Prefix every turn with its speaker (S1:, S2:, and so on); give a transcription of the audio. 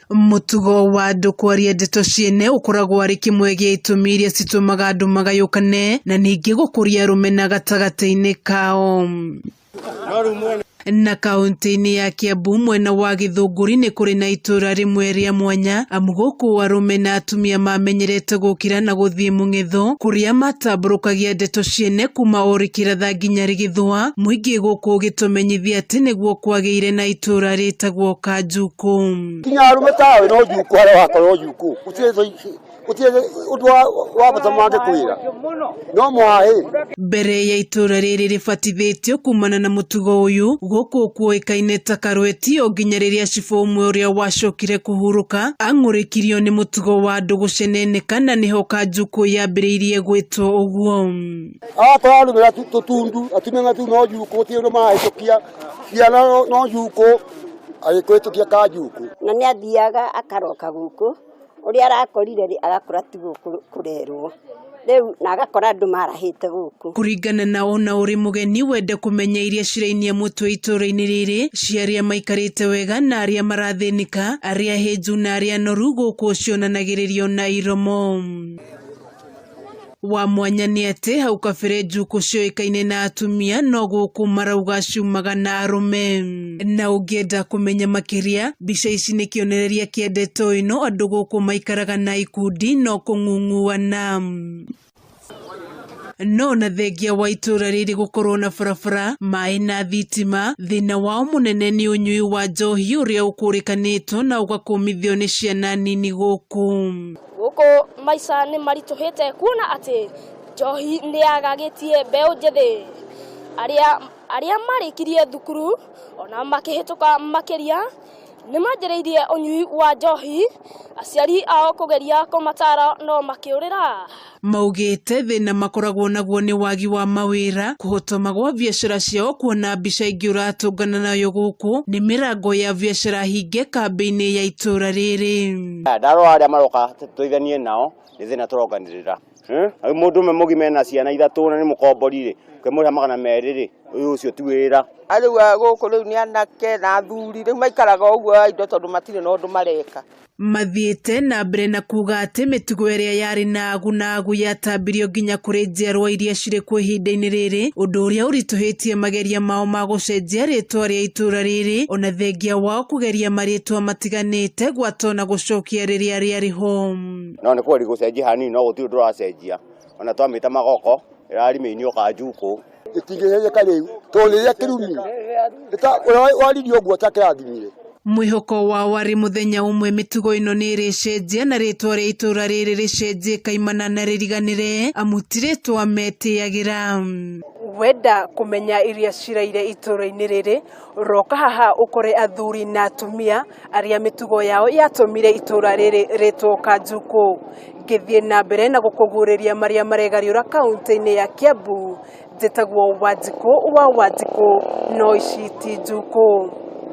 S1: Mũtugo wa andũ kwaria ndeto ciene ũkoragwo arĩ kĩmwe gĩa itũmi iria citũmaga andũ magayũkane na ningĩ gũkũria rũmena gatagatĩ-inĩ kao. Na kaũntĩ-inĩ ya Kiambu mwena wa Gĩthũngũri nĩ kũrĩ na itũra rĩmwe rĩa mwanya amu gũkũ arũme na atumia mamenyerete gũkĩra na gũthiĩ mũng'etho kũrĩa matambũrũkagia ndeto ciene kuma o rĩkĩratha nginya rĩgĩthũa, mũingĩ gũkũ ũgĩtũmenyithia atĩ nĩguo kwagĩire na na itũũra rĩtagwo Kanjuku. kinya arume tawe no njuku harĩa wakorwo njuku gũtirĩ ũndũ wa bata mangĩkwĩra no mwaĩ Mbere ya itũũra rĩrĩ rĩbatithĩtio kumana na mũtugo ũyũ, gũkũ kuoĩkaine ta Karweti, o nginya rĩrĩa cibũ ũmwe ũrĩa wacokire kũhurũka ang'ũrĩkirio nĩ mũtugo wa andũ gũceneneka, na nĩho Kanjuku yambĩrĩirie gwĩtwo ũguo. akorwo arumĩra tũtundu atumia tu no njuku gũtirĩ ũndũ marahĩtũkia ciana no njukũ agĩkũhĩtũkia ka njukũ na nĩ athiaga akaroka gũkũ ũrĩa arakorire rĩ agakora ti gũkũ kũrerwo rĩu na agakora andũ marahĩte gũkũ kũringana na ona ũrĩ mũgeni wende kũmenya iria cirainia mũtwe itũũra-inĩ rĩrĩ cia arĩa maikarĩte wega na arĩa marathĩnĩka arĩa hĩnju na arĩa anoru gũkũ cionanagĩrĩrio na iromo wa mwanya nĩ atĩ hau kabere njukũ cioĩkaine na atumia no gũkũ marauga ciumaga na arũme na ũngĩenda kũmenya makĩria mbica ici nĩ kĩonereria kĩa ndeto ĩno andũ gũkũ maikaraga na ikundi no kũng'ung'uana no na thengia wa itũra rĩrĩ gũkorwo na barabara maĩ na thitima thĩna wao mũnene nĩ ũnyui wa njohi ũrĩa ũkũrĩkanĩtwo na ũgakũmithio nĩ ciana nini gũkũ Gũkũ maica nĩ maritũhĩte kuona atĩ njohi nĩ yagagĩtie mbeũ njĩthĩ. Arĩa, arĩa marĩkirie thukuru ona makĩhĩtũka makĩria nĩ manjĩrĩirie ũnyui wa njohi, aciari ao kũgeria kũmatara no makĩũrĩra. Maugĩte thĩna makoragwo naguo nĩ wagi wa mawĩra, kũhotoma gwa biacara ciao kuona mbica ingĩ ũratũngana nayo gũkũ nĩ mĩrango ya biacara hinge kambĩ-inĩ ya itũra rĩrĩ. Aya, ndarora arĩa maroka tu- tũiganie nao nĩ thĩna tũronganĩrĩra Eh? Rĩu mũndũ ũmwe mũgima ena ciana ithatũ na nĩ mũkombori rĩ ũkĩmũrĩha magana merĩ rĩ ũyũ ũcio ti wĩra rĩu a gũkũ rĩu nĩ anake na athuri rĩu maikaraga ũguo a indo tondũ matirĩ na ũndũ mareka Mathiĩte na mbere na kuuga atĩ mĩtugo ĩrĩa yarĩ na agu na agu yatambirio nginya kũrĩ njiarwa iria cirĩ kuo ihinda-inĩ rĩrĩ, ũndũ ũrĩa ũritũhĩtie mageria mao ma gũcenjia rĩĩtwa rĩa itũũra rĩrĩ, ona thengia wao kũgeria marĩĩtwa itiganĩte gwata ona gũcokia rĩrĩa rĩarĩ ho. No nĩ kũgũri gũcenjia hanini no gũtirĩ ũndũ ũracenjia ona twamĩta magoko ĩrarĩ mĩini oka njukũ. Gĩtingĩcenjeka rĩu tondũ rĩrĩa kĩrumi waririe ũguo ta kĩrathimire. Mwĩhoko wao warĩ mũthenya ũmwe mĩtugo ĩno nĩ ĩrĩcenjia na rĩtwa rĩa itũũra rĩrĩ rĩcenjie kaimana na rĩriganĩre amu ti rĩtwa metĩyagĩra. Wenda kũmenya iria ciraire itũũra-inĩ rĩrĩ Roka haha ũkore athuri na atumia arĩa mĩtugo yao yatũmire itũra rĩrĩ rĩtwo Kanjukũ. Ngĩthiĩ na mbere na gũkũguũrĩria marĩa maregariũra kaũntĩ-inĩ ya Kiambu, njĩtagwo Wanjikũ wa Wanjikũ no ici ti njukũ.